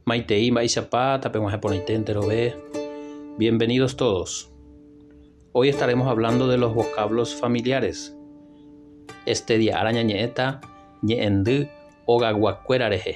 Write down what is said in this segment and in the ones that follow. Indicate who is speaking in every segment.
Speaker 1: Maitei mba'eichapa tapeg̃uahẽ porãite enterove. Bienvenidos todos. Hoy estaremos hablando de los vocablos familiares. Este día ára ñañe'ẽta ñe'ẽndy ogayguakuéra rehe.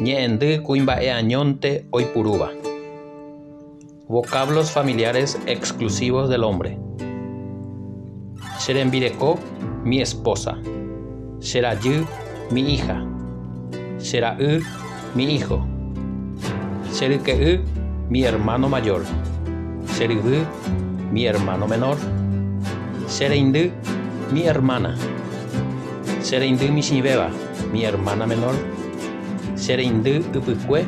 Speaker 1: Ñe'ẽndy kuimba'eañónte oipurúva. Vocablos familiares exclusivos del hombre. Che rembireko, mi esposa. Che rajy, mi hija. Che ra'y, mi hijo. Che ryke'y, mi hermano mayor. Che ryvy, mi hermano menor. Che reindy, mi hermana. Che reindy michĩvéva. mi ermána menór, che reindy ypykue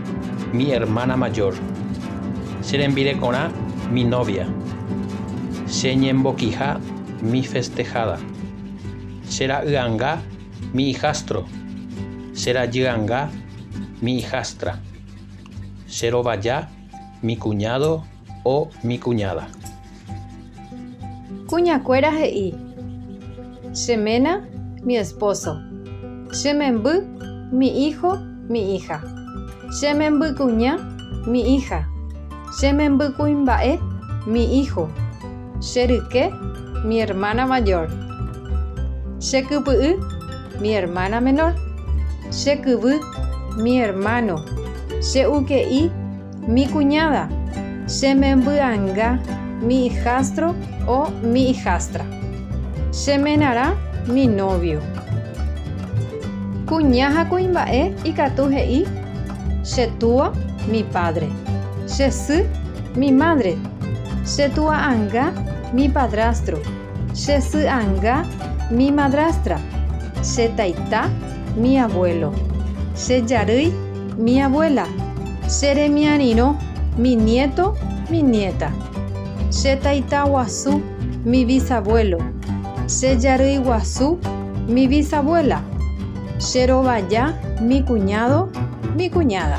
Speaker 1: mi ermána majór, che rembirekorã mi nóvia, che ñembokiha mi festeháda, che ra'yanga mi ijástro, che rajyanga mi ijástra, che rovaja mi kuñádo, O mi kuñáda.
Speaker 2: Kuñakuéra he'i, Che ména, mi espóso. Che memby, mi ího, mi íha. Che membykuña, mi íha. Che membykuimba'e, mi ího. Che ryke, mi ermána majór. Che kypy'y, mi ermána menór. Che kyvy, mi ermáno. Che uke'i, Mi kuñáda, che membyanga, mi ijastro o mi ijastra. Che menarã, mi nóvio. Kuña ha kuimba'e ikatu he'i, Che túa, mi pádre. Che sy, mi mádre. Che tua'anga, mi padrastro. Che sy anga, mi madrastra. Che taita, mi abuelo. Che jarýi, mi abuela. Che remiarirõ, mi nieto, mi nieta. Che taita guasu, mi visabuelo. Che jarýi guasu, mi visabuela. Che rovaja, mi kuñádo, mi kuñáda.